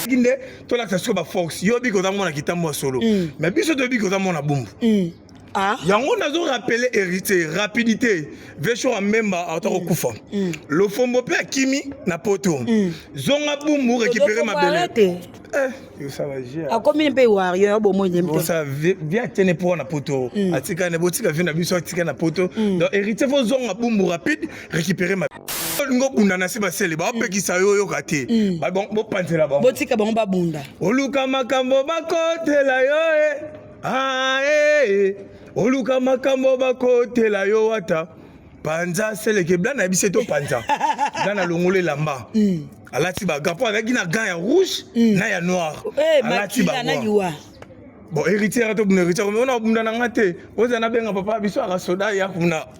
nde tolakisa siko baforce yo biki oza mwana kitambo ya solo mm. mais biso toyebi ki oza mwana bumbu mm. Ah. yango nazo rappele héritier rapidité vesho amemba auta mm. kokufa mm. lofombo mpe akimi na poto mm. zonga bumbu récupere mabele eh, akomi mpe wario bomoiebia tiene mpo na poto atikane botika vi na biso atika na poto donc héritier fo zonga bumbu rapide récupere mabele olingi obunda na se basele baopekisa yo oyoka te mm. bopanzela bango botika bango babunda oluka makambo bakotela yo e ah, e oluka makambo bakotela yo wata panza seleke bla na biso to panza bla na longola elamba mm. alati baga mpo azalaki na gan ya rouge mm. na ya noir eh, alati baga bon héritier atobunda héritier ona obunda na nga te ozana benga papa biso akasoda ya kuna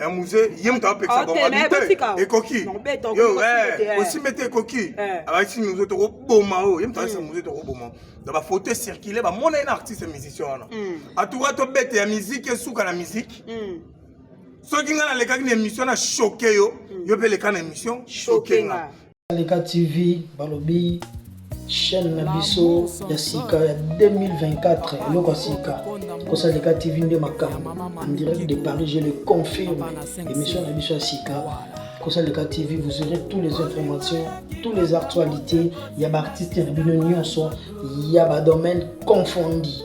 Eh, muze ye moto apekisa bango abite ekoki osimbe te ekoki abakisi muze tokoboma oyo ye moto abakisa muze tokoboma na bafaute circule bamona ye na artiste musicien wana atuka tobete ya miziki esuka na miziki soki ngai nalekaki na émission na choke yo yo mpe leka na émission choke nga Aleka TV balobi chaîne na biso ya sika ya 2024 eloko ya sika kosaleka tv nde makambo en direct de paris je le confirme émission na biso ya sika kosaleka tv vous aurez toutes les informations toutes les actualités ya baartiste na bino nyonso ya badomaine confondi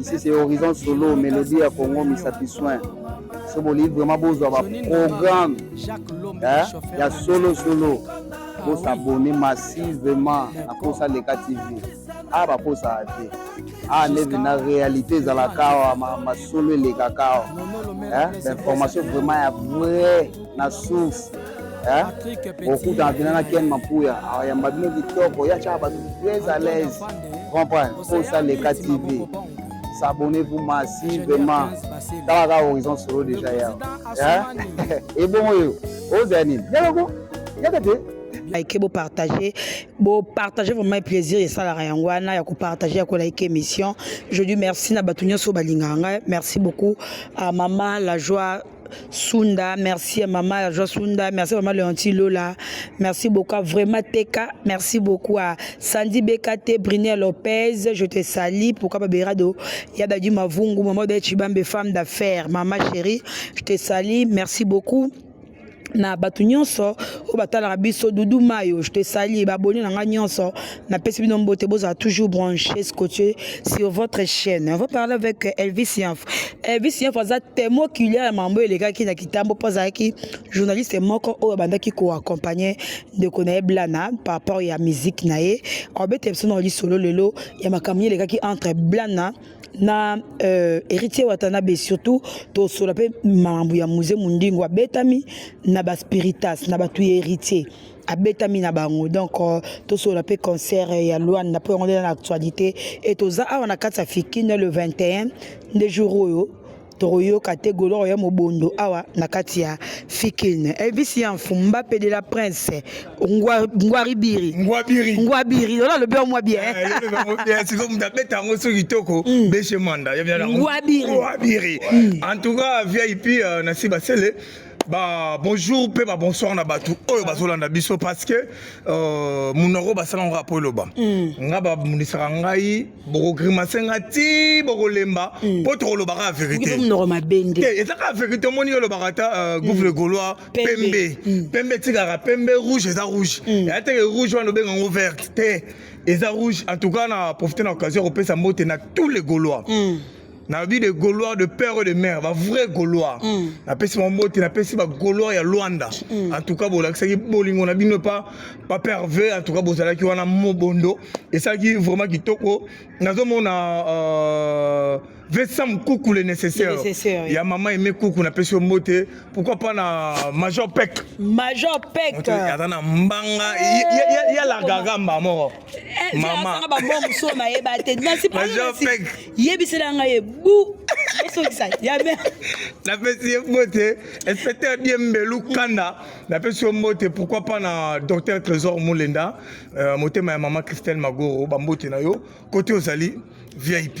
ici c'est horizon solo melodie ya congo misapi soin so bolingi vraiment bozwa baprogramme eh, ya solo solo bosabone massivement na posa leka tv a ah, baposaka te a ah, neve na réalité ezalaka awa masolo elekaka awa eh, bainformation vraiment ya vrai na souffle eh? okutana mpena na ken mapuya ayamba bino kitoko ya tyaka bato très à l'aise comprendre posa leka tv s'abonner vous masi vraiment tala kaka horizon solo déjà ya ebongo oyo ozala nini yaloko yaka te like bo partager bo partager vraiment plaisir esalaka yango wana ya kopartage ya kolike émission je dis merci na bato nyonso balingaka ngai merci beaucoup à mama la joie Sunda, merci à maman la joie Sunda, merci à maman Leonti Lola, merci beaucoup à vraiment Teka, merci beaucoup à Sandy Bekate, Brinia Lopez, je te salue, pourquoi pas Berado, Yabadi Mavungu, maman de Chibambe, femme d'affaires, maman chérie, je te salue, merci beaucoup. na bato nyonso oyo batalaka biso dudu mayo je te sali baboni na ngai nyonso napesi bino mbote bozala toujours branché scottier sur votre chaîne on va parler avec euh, elvis yanf elvis yanf aza temo kilia ya mambo elekaki na kitambo mpo azalaki journaliste moko oyo abandaki koaccompagne ndeko na ye blana par rapport ya musique na ye abeta biso na lisolo lelo ya makambo elekaki entre blana na euh, héritier watanabe surtout tosola mpe mambo ya muse mondingo abetami na baspiritas na bato ya héritier abetami na bango donc euh, tosola mpe concert ya luanda mpo yango nde na actualité e toza awa na kati ya fikine le 21 nde jour oyo tokoyoka te goloro ya mobondo awa na kati ya fikine elvis ya mfumba mpe de la prince ngwaribiri ngwabiri ola alobi yango mwa bien eh, sikoyo moto abeta yango so kitoko mm. beshe manda ngwabiri en tout cas vip euh, na sibasele ba bonjour mpe ba bonsoir na bato oyo bazolanda biso parce que euh, monoko basala ngo apo eloba mm. nga bamonisaka ngai bokogrimase nga ti bokolemba mpo mm. tokolobaka ya verité ezaka verité omoni olobaka ata euh, mm. gouffre gaulois pembe pembe etikaka pembe rouge eza rouge eya teke rouge wana obenga ngo verte te eza rouge en tout cas na profite na occasion ya kopesa mbote na tous les gaulois nalobi de gaulois de père et de mère bavrai gaulois mm. napesi bango mbote napesi bagaulois ya lwanda mm. en tout cas bolakisaki bolingo na bino epa papa herve en tout cas bozalaki wana mobondo esalaki vraiment kitoko nazomona euh, Vincent Mkuku le nécessaire. nécessaire oui. Ya maman aimé Kuku na pesi mbote. Pourquoi pas na Major Peck. Major Peck. Ata na mbanga ya ya la gagamba mort. Eh, mama ba mo muso na ye ba te na si pas ye bisela nga ye bu osokisa ya be na pesi ye mbote inspecteur die mbelu kanda na pesi yo mbote pourquoi pas na docteur trésor mulenda euh, motema ya mama christelle magoro ba mbote na yo kote ozali vip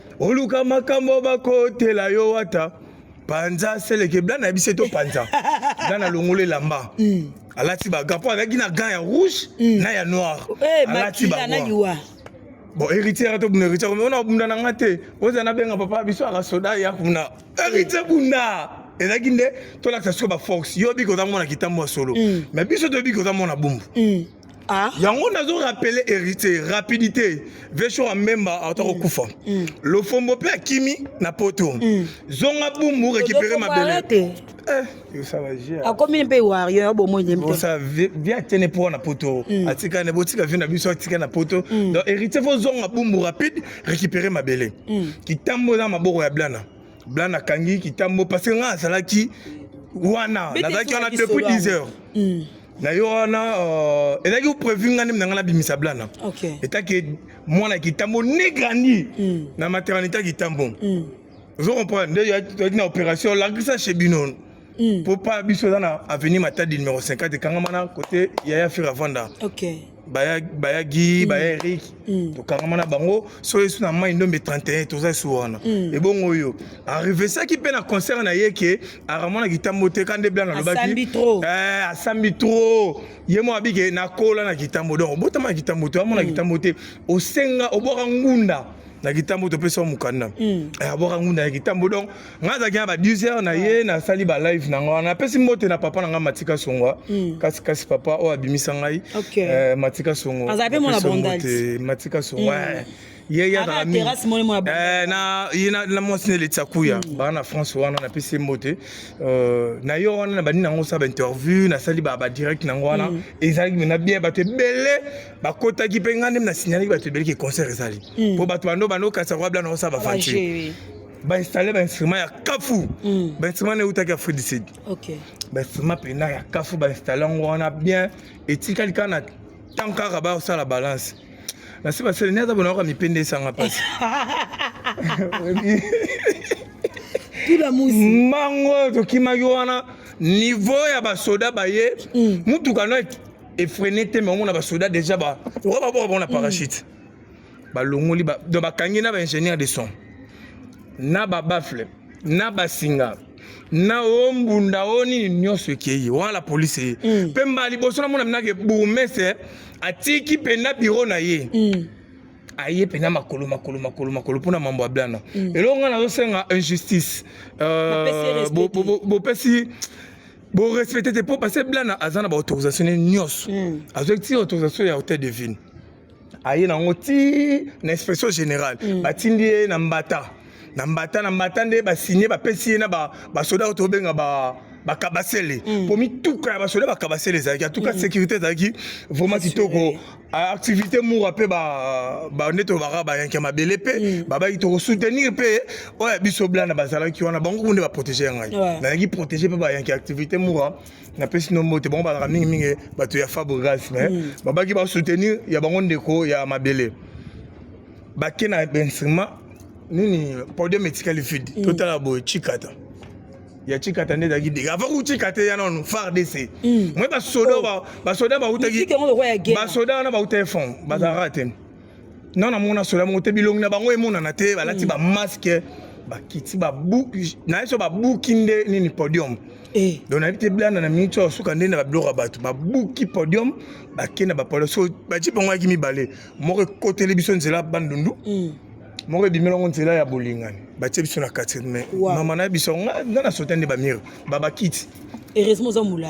oluka makambo bakotela yo wata panza seleke blana ya biso to panza blana longola elamba mm. alati baga mpo azalaki na gan ya rouge mm. na ya noir eh, alati baga bon héritier to bunda héritier mais ona bunda na nga te oza na benga papa biso aka soda ya kuna héritier bunda ezalaki nde tolakisa siko baforce yo biki oza mona kitambo ya solo mm. mais biso toyebiki oza mona bumbu mm. Ah. yango nazo rapele héritier rapidité vesho ya mbemba auta kokufa mm. mm. lofombo mpe akimi na poto mm. zonga bumbu récupéré mabele eh, akomi mpe warrior bomonivi atiene mpo na poto mm. atikane botika vi na biso atika na poto donc héritier fozonga bumbu rapide récupéré mabele kitambo eza maboko ya blana bla nakangi kitambo parce que ngai azalaki wana nazalaki wana depuis 10 heures mm. na yo wana euh, ezalaki prévu ngai ndemi na ngai nabimisa blana etaki mwana ya kitambo ne grandi mm. na maternité ya kitambo mm. ozo comprendre nde toyaki na opération lagrisa chez bino mpo pa biso eza na avenue matadi numéro 50 ekangama na kote yaya fira vanda okay. baya baya gi mm. baya eric mm. tokangama na bango so yesu na mai ndombe 31 toza su wana mm. ebongo oyo arevesaki mpe na concert na ye ke aramonaki kitambo te ka nde blanc alobaki asambi trop eh, ye moko abike nakola na kitambo donc obotama na kitambo te amona kitambo te osenga obwaka ngunda na kitambo topesa mokanda abwaka ngunda na kitambo donc nga azalaki na ba 10 heures na ye nasali ba live na nga napesi mbote na papa na nga matika songwa hmm. kasi kasi papa oyo abimisa ngai eh, matika songo matika songo hmm. eh. ye yazalaka mingi eh, na ye na mwasi na eleti akuya hmm. baa na france wana napesi ye mbote euh, na yo wana na bandi nango osala bainterview nasali badirect nango wana hmm. ezalaki mena bien bato ebele bakotaki mpe ngai nde nasignalaki bato ebele ke concert ezali mpo hmm. bato bando bando kasi akoya bla na osala bafanti bainstalle bainstrument ya kafu mm. bainstrument neutaki ya fridicid okay. bainstrument mpena ya kafu bainstalle yango wana bien etikali kaka na ntango kaka basala balance nasi basele ni aza bonaka mipende esanga mpasi mango oyo tokimaki wana niveau ya basoda baye mm. motuka no efrene te me omona basoda deja lokola baboka bango na mm. parachute mm. balongoli ba, donc bakangi na ba ingénieur de son na ba baffle na basinga na o mbunda o nini nyonso ekei wana la police eye mm. mpe mbala liboso namona minake bourgmestre atiki mpenza biro na ye mm. aye mpenza makolo makolo makolo makolo mpo na mambo ya blana mm. eloko ngai nazosenga injustice euh, bopesi borespecte te mpo parce blana aza na baautorisation ne nyonso mm. azwaki ti autorisation ya hotel de ville aye nango ti na inspection générale mm. batindi ye na mbata na mbata na mbata nde basigne bapesi ye na basoda oyo tobenga ba bakabasele mm. po mituka ya basoda bakabasele ezalaki atuka mm. sécurité ezalaki vraiment kitoko activité mura mpe nde tolobaka bayanke mabele mpe mm. babaki tokosoutenir mpe oyo ya biso blana bazalaki wana bango nde baprotege ya ngai nazalaki protege mpe bayanke activité mura napesi no mbote bango balaka mingimingi bato ya fabregas mais mm. babaki basoutenir ya bango ndeko ya mabele bake na instrument nini podium etikali vide mm. totala boye chikata ya chikata nde ezalaki dega avant kuchikata ya nanu fardc mm. moi basoda oh. basoda bautaki basoda wana bautaki fond bazalaka te mm. Non, na mona sola mongo te bilongi na bango emonana te balati ba masque bakiti babuki naye so babuki nde nini podium eh. donc nayebi te blanda na minute oyo suka nde na babiloko ya bato babuki podium bake na bapodium so batie bango yaki mibale moko ekoteli biso nzela bandundu mm. moko ebimeli yango nzela ya bolingani batie biso na kati me mama na ye biso nga na sota nde bamire babakiti heureusement oza mula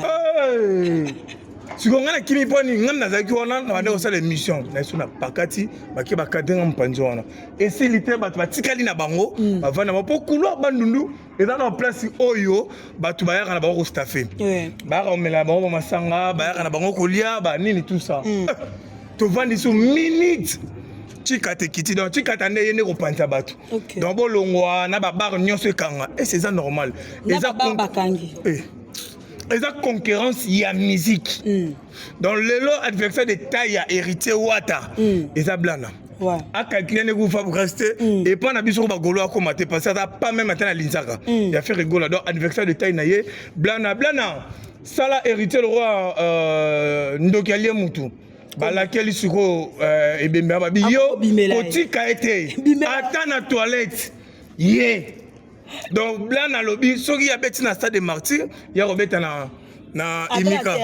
sikoyo ngai nakimi mpo nini ngai nazalaki wana na banda kosala émission na biso na pakati bake bakadre nga mopanzi wana esili te bato batikali na bango mm. bavanda bango mpo couloir bandundu eza na place oyo bato bayaka na bango kostafe bayaka komela na bango bamasanga bayaka na bango kolia banini tout ça mm. tovandi so minute chikata ekiti donc chikata nde ye nde kopanza bato okay. donc bolongwa na babare nyonso ekanga ese eh, eza normal eza bakangi eh. eza concurrence ya musique mm. donc lelo adversaire de taille ya héritier wata mm. eza blana ouais. akalkile ndenge kufa bokasi te mm. epai na biso ko bagolo akoma te parce aza pas meme ata na linzaka mm. ya faire egola donc anniversaire de taille na ye blana blana sala héritier le roi euh, ndoki alie mutu balakeli sikoyo euh, ebembe ya babi yo kotika ye te ata na toilette ye donc blan alobi soki abeti na stade de martyr ya kobeta na na imika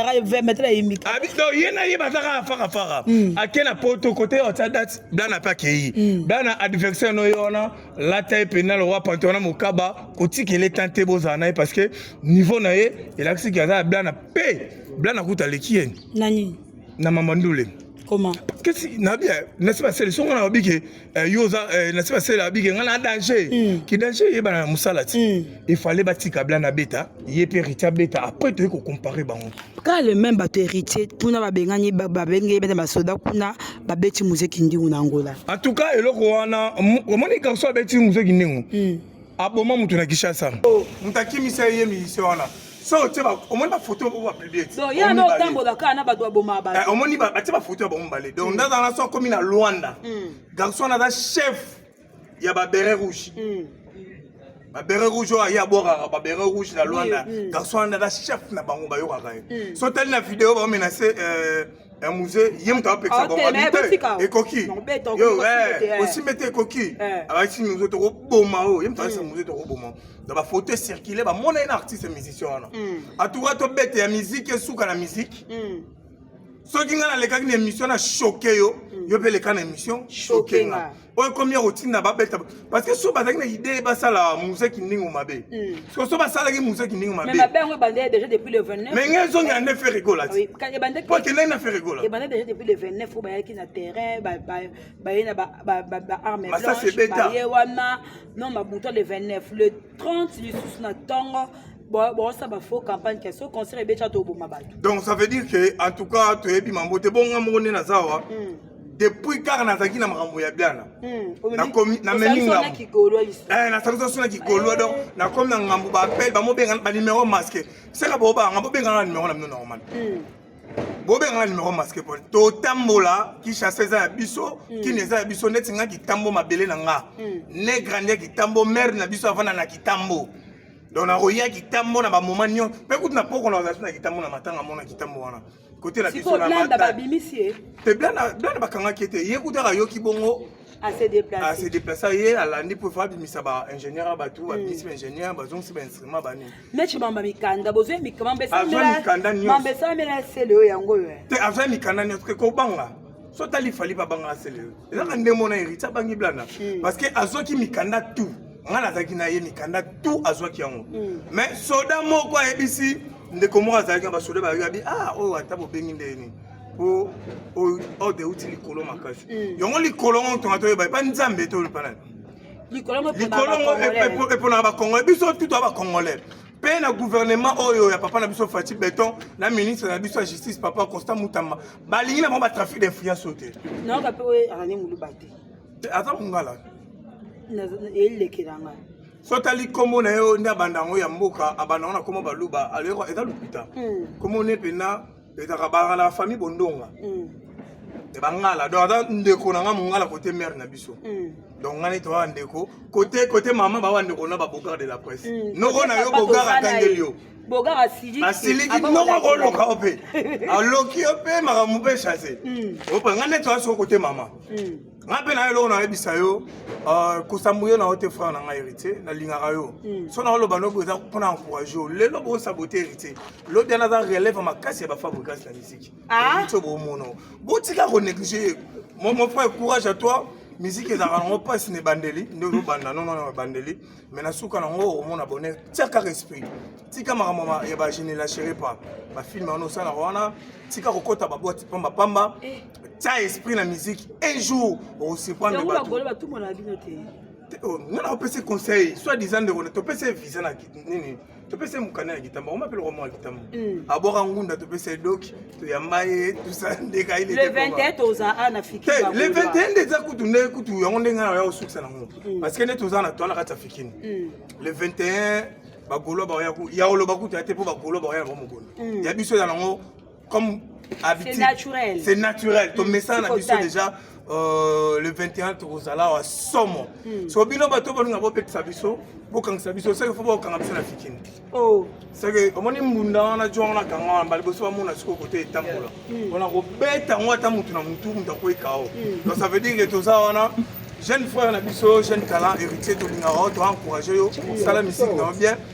donc ye na ye bazaka afaka faka hmm. ake na poto kote ya otya date blan ape akei hmm. blan na adversaire no ye wana lata ye mpena lowa pante wana mokaba kotikela etan te bozala na ye parce que niveau na ye elakisi ke aza ya blan mpe blan akuta aleki ye na nini na mama ndule comment kesi nabi eh, nasi basele songo na babi ke eh, yo oza eh, nasi basele abi ke ngai na danger mm. ki danger eyebana na mosala ti mm. il fallait batika bla na beta ye mpe héritier abeta après toyei kocompare bango kaka le même bato héritier kuna babengani babengei bete basoda kuna babeti muse kindingu na angola en tout cas eloko wana omoni kaso abeti muse kindingu mm. aboma moto na kinshasa oh, moto akimisa ye ye miyise wana so otie omoni bafoto oyo bapiblie yana otambola kaka na bato baboma bato eh, omoni batie bafoto ya bango mibale donc ndaza wana so akomi na luanda hmm. garçon wana aza chef ya babere rouge hmm. babere rouge oyo aye abwakaka babere rouge na luanda hmm. garçon wana aza chef na bango bayokaka ye so otali na video baomenase euh, Eh, muze ye moto apekisa bango abite ekoki osimbe te ekoki abakisi muze tokoboma oyo ye moto abakisa muze tokoboma na bafaute circule bamona ye na artiste musicien wana atuka tobete ya miziki esuka na miziki soki ngai nalekaki na émission na choke yo yo mpe leka na émission choke nga oyo ekomi ya kotinda babeta parce que so bazalaki na idee basala musée kindingu mabe siko hmm. so basalaki musée kindingu mabe mais mabe yango ebandaki déjà depuis le 29 mais ngai ezongi ande ferre gola ti po akendaki na ferre gola ebandaki déjà depuis le 29 oyo bayaki na terrain baye na baarme blanche baye wana non babuta le 29 le 30 lisusu na ntongo bosa bafaux campagne ke so concert ebetya toboma bato donc ça veut dire que en tout cas toyebi mambo te bonga moko nde naza awa hmm. depuis kaka nazalaki na makambo ya biana hmm, nakomi namemi ngambo eh, nasalisa so na kigolwa donc eh. nakomi na ngambo baapel bamobenga banimero masque seka bobanga bobengana na nimero na bino normal hmm. bobengana nimero masque po totambola kinshasa eza ya biso hmm. kini eza ya biso neti nga kitambo mabele na nga ne grandi ya kitambo mare na biso avanda na kitambo donc nakoya kitambo na bamoma nyonso mpe kutu na pokona bazalaki na kitambo na matanga mona kitambo wana kote na biso na mata babimisi ye te blana blana bakangaki te ye kuta ayoki bongo ase déplace ye alandi mpo fa abimisa ba ingénieur ya bato babimisi ba ingénieur bazongisi ba instrument banini meci mamba mikanda bozwi mikamba esalamela sele oyo yango oyo te azwa mikanda nyonso te kobanga so tali fali babangaka sele oyo ezaka nde mona héritier abangi blana parce que azwaki mikanda tout nga nazalaki na ye mikanda tu azwaki yango mm. mais soda moko ayebisi ndeko moko azalaki na basoda bayebi ah oyo oh, ata bobengi nde nini po oyo oh, oh, euti likolo makasi mm. yango likolo ngo tonga toyeba epa nzambe tolupa nani likolo ngo eponaka bacongolais biso tutu ya bacongolais mpe na gouvernement oyo ya papa na biso fati beton na ministre na biso ya justice papa constant mutamba balingi na bango batrafic d'influence oyo te nayoka mpe oyo arane muluba te aza mongala elekela ngai so otali nkombo na ye oyo nde abanda yango ya mboka abanda yango na nkombo baluba aloyeko eza lokuta hmm. nkombo ne mpenza ezaka bangala ya famille bondonga hmm. e bangala donc aza ndeko na ngai mongala kote mare na biso hmm. donc ngai neti oya ndeko kote kote mama bawa ndeko na babogard de la presse noko na yo bogard atangeli yo boga asiliki asiliki noko akoloka yo mpe aloki yo mpe makambo mpe chase hmm. ope ngai neti oya soko kote mama hmm. ngai mpe na yo eloko nayebisa yo euh, kosambu yo na yo te frère na ngai héritier nalingaka yo hmm. so na oloba nobo eza mpo na encourage yo lelo bosabote héritier lobi ana aza relève makasi ya bafabrikasi na misiki ah. so bomona botika konéglige mon frère courage à toi miziki ezalaka nango mpasi na ebandeli nde ozobanda nono na ebandeli mais na suka nango okomona bonheur tia kaka esprit tika makambo ya bagene la chere pa bafilme wana osalaka wana tika kokɔta babwati pamba pamba eh. tia esprit na musique un jour okosurprendre bato nga na opesi conseil soit disant ndeko topesi visa na nini topesa ye mokanda ya kitamba oma mpe lokwa mwa kitamba hmm. abwaka ngunda topesa ye doki toyamba ye tosala ndeka ye le 21 toza a na fiki te le 21 nde eza kutu nde kutu yango ndenge na ya kosukisa nango hmm. parce que nde toza na toana kati ya fikini hmm. le 21 bagolo baoya ya oloba kutu ya te mpo bagolo baoya na bango mokolo ya biso eza nango comme habitude c'est naturel c'est naturel to message na biso déjà euh, le 21 tokozala wa somo hmm. so bino bato balinga bobetisa biso bokangisa biso seke fo bokanga biso na fikini oh. seke omoni mbunda wana jo wana kanga wana mbala liboso bamona siko kote etambola hmm. wana kobeta yango ata motu na motu moto akweka o hmm. donc ça veut dire que toza wana jeune frère na biso jeune talent héritier tolingaka yo toencourage yo sala misiki na yo bien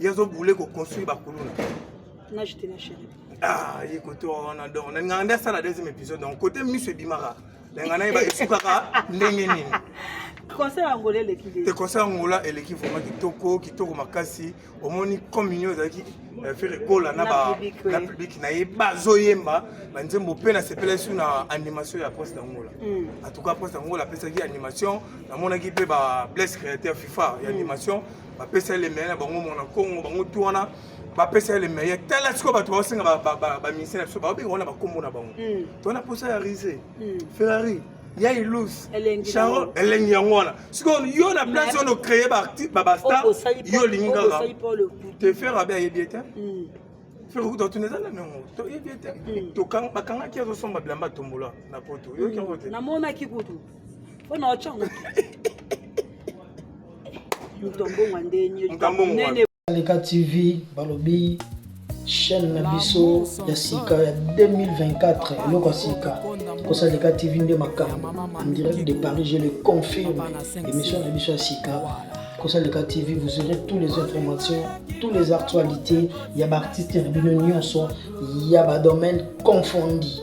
ye azo boule ko construire ba kuluna na jete na chérie ah ye kote wana donc na nganga nde asala deuxième épisode donc kote miso ebimaka na ngana ye ba esukaka ndenge nini conseil ya ngola eleki nde te conseil ya ngola eleki vraiment kitoko kitoko makasi omoni communion ezalaki eh, fere gola na ba na public na ye bazoyemba banzembo mpe nasepela esu na animation ya poste ya ngola mm. en tout cas poste ya ngola apesaki animation namonaki mpe ba blesse créateur fifa ya mm. animation mm. bapesa ye lemeye na bango mwana kongo bango tu wana bapesa ye lemeye tala sikoyo bato baosenga baministre na biso baobenga wana bakombo na bango hmm. to wana mposa ya rise hmm. ferrari ya ilus charol elengi yango wana sikoyo yo na place oyo nocreye babastar yo olingi kaka te fer abe ayebi ete hmm. fer okuta otuna eza na nango toyebi ete bakangaki azosomba bilamba tombola na poto yoki yango te Pona ochango. Mtombonga ndenye. Mtombonga. Leka TV balobi chaîne na biso ya sika ya 2024 eloko ya sika kosa leka tv nde makambo en direct de paris je le confirme émission na biso ya sika kosa leka tv vous aurez toutes les informations toutes les actualités ya baartiste na bino nyonso ya badomaine confondi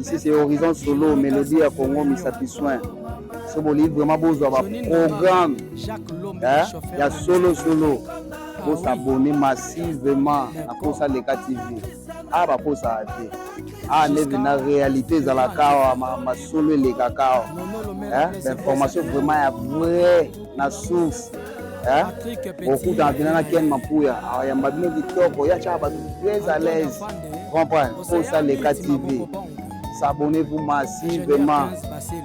ici c'est horizon solo melodie ya congo misapi soin so bolingi vraiment bozwa baprogramme eh, ya solo solo bosabone massivement na posa leka tv a ah, baposaka te a ah, neve na réalité ezalaka awa masolo elekaka awa eh, bainformation vraiment ya vrai na souffle eh? okutana mpena na ken mapuya ayamba bino kitoko ya tyaka bato très à l'aise comprendre posa leka tv s'abonner vous masi vraiment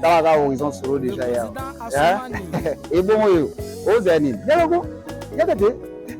tala kaka horizon solo déjà ya ebongo yo ozala nini yaloko yaka te